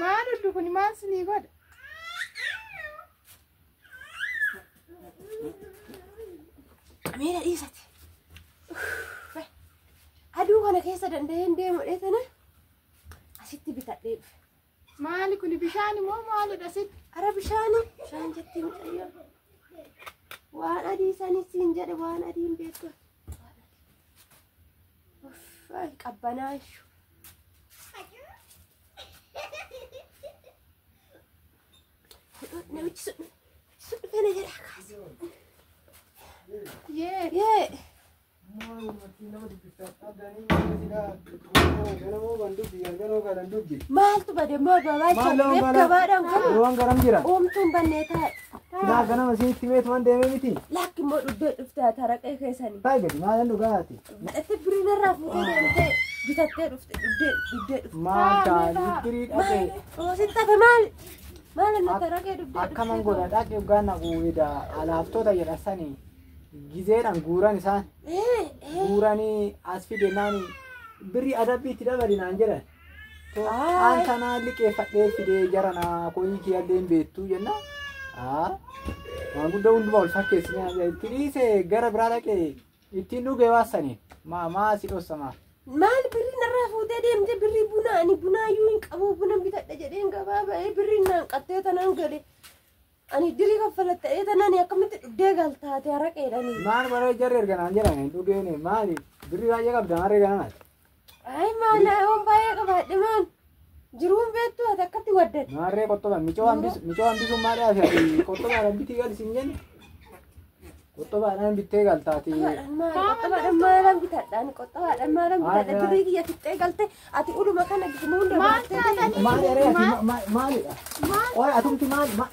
Maal ullu kun maal sinii godha? Meera dhiisate. Aduu kana keessa danda'een deemudhee tana asitti bitadhee dhufe. Maali kun bishaan moo maalidha sitti? Ara bishaani bishaan jettee mucayyoo. Waan adii isaanii siin jedhe waan adiin beektu. Uffaan qabbanaa ishu. Namichi sun sun dhufee na jedha kaasa. Yee. Yee. Maaltu bade moo babaa Maaloo jennee bara- gabaadhaan galu. Waan garam jira. Uumtuun bannee taa'e. Naa ganama isinitti meetu waan deemee miti. Lakki immoo dhuddee dhuftee taraqee keessanii. Baay'ee gadi maalan dhugaati. Madhattee birrii narraa fuutee deemtee bitattee dhufte dhugdee dhugdee dhufte. Maal ta'a libbirii dhaqee Oosin tafe maali? Maali na taragee dhugdee akkaman godha dhaqee dhugaa na guubida alaaftoota jedha sani gizeedhaan guuran isaan guuranii as fide naani birrii adabbii itti dabali naan jedhan. Aan kanaa liqeeffadhee fidee jara naa koyii kiyallee hin beektuu jenna. Haa maanguddaa hundumaa ol fakkeessinee itti dhiise gara biraa dhaqee Ittiin dhugee waan saniin. Maa maa si dhossa maa. Maal birrii narraa fuutee deemte birrii bunaa ani bunaa iyyuu hin qabu buna bitadha jedheen gabaa ba'ee birrii naan qattee tanaan gale. Ani dirii kaffala ta'ee tanaan akkamitti dhugdee galtaate haraqeedhani. Maal baree jarri erga naan jedhame hin dhugeen maali birrii baay'ee qabda maal erga naan Ay maana yoon baay'ee qabaadhe maan jiruun beektu ati akkatti waddate. Maarree qottobaan micoo hambis micoo hambisuun maal yaasa ati qottobaadhaan bitii gali sin jenna. Qottobaadhaan bittee galtaati. Qottabaadhaan maal qottabaadhaan maalan bitadhaan qottabaadhaan maalan bitadha durii kiyya fixxee galte ati uluma kana gifnu hunda baattee deemte. Maal eree ati ma- ma- maalidha? Qoy atumti maal ma-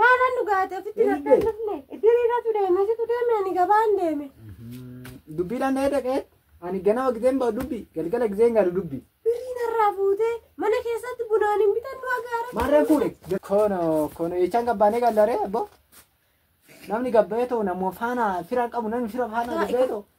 Maalaan dhugaate ofitti gabbee hin dhufne. Iddiriiratu deeme situ deeme ani gabaan deeme. Dubbiidhaan dhahee dhaqee ani ganama gizeen ba'u dubbi galgala gizeen gaadu dubbi. Birrii narraa fuutee mana keessatti bunaan hin bitan nu agaara. Maarreen fuudhe. Kono kono jechaan gabbaanee gallaree abbo. Namni gabbaa'ee ta'u namoo faana fira qabu namni fira faana gabbaa'ee ta'u.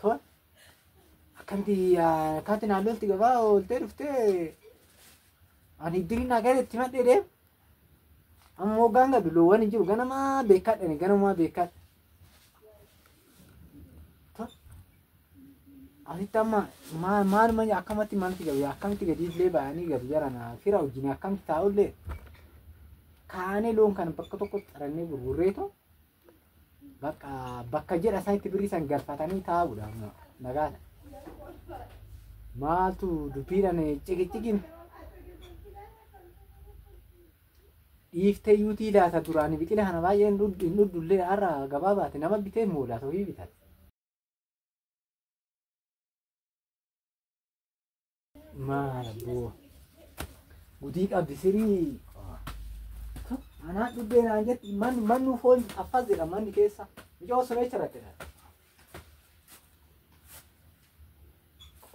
Toon akkanti akkaatti naannootti gabaa ooltee dhuftee ani iddiriin naa gara itti madhee deem. Amma hoggaan gadu loowwan hin jiru ganamaa beekaa dhani ganamaa beekaa. Toon asitti amma maal maal maal akkamatti maalti gabi akkamtti gadi illee ba'anii gadu jarana fira wajjin akkamtti taa'ullee kaanee loon kana bakka tokkotti xarannee gurgurreetu Bakka bakka jedha isaatti birrii san galfatanii taa'uudha amma nagaadha. Maaltu dubbiidhaan ciqiciqiin dhiiftee yuutii laata duraan biqila kana baay'ee hin dhudhu hin dhudhu illee har'a gabaa baate nama bitee immoo laata ofii bitate. Maal abboo. Gutii qabdi sirii. Anaa dhubbee naan jetti man mannu foon affas jedha manni keessa. Mijoo sun eessa irratti dha?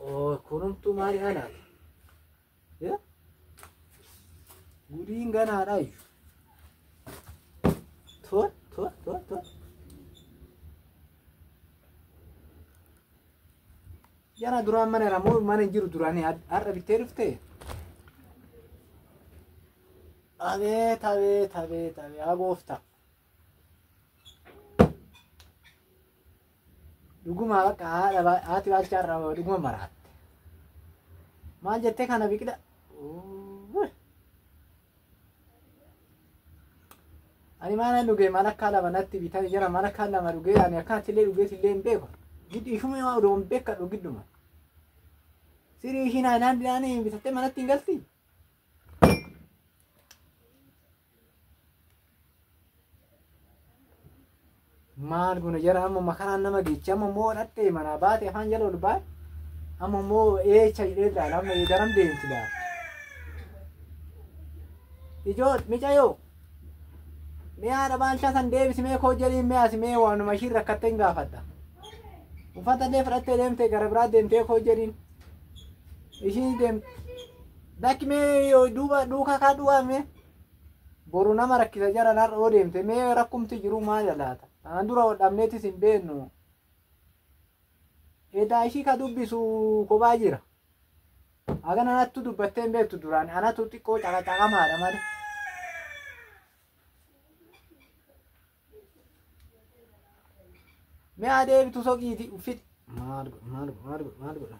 Oo kunumtuu maali ana? Ya? Gudiin ganaadha iyyuu. Tol tol tol tol. Yana duraan mana irraa moo mana hin jiru duraanii had- har'a bittee dhufte? Abeet abeet abeet abeet haa gooftaa. Dhuguma bakka haadha baa- haati baalchaa irraa dhuguma maraatte. Maal jettee kana biqila? Uuuy. ani maanan dhugee maal akka lama natti bitaa jira maal akka lama dhugee ani akkanatti illee dhugee illee hin beeku giddu ishuma yoo odoo hin beekadhu gidduma sirii ishiin haadhaan dhiyaanii bitattee manatti hin galti maal guna jara amma makaraan nama geechi amma immoo dhattee manaa baate afaan jala ol baate amma immoo eecha jedhee ilaala amma eegaram deemti laala. Ijoo micayoo mi'aa dhabaalchaa san deebisi mee koo jedhiin mi'aasi mee waanuma ishiin rakkattee hin gaafadha. Uffata illee fudhattee deemtee gara biraa deemtee koo jedhiin ishiin deemte. Dakki mee duuba duukaa kaa duwwaa mee. boru nama rakkisa jaran har'a yoo deemte mee rakkumti jiru maaya laata aan dura wal dhabneetis hin beennu edaa ishii ka dubbisu kophaa jira hagan anattu dubbattee hin beektu duraan anatu xiqqoo caqacaqamaadha malee mee adeebitu soqiiti uffit maal godha maal godha maal godha maal godha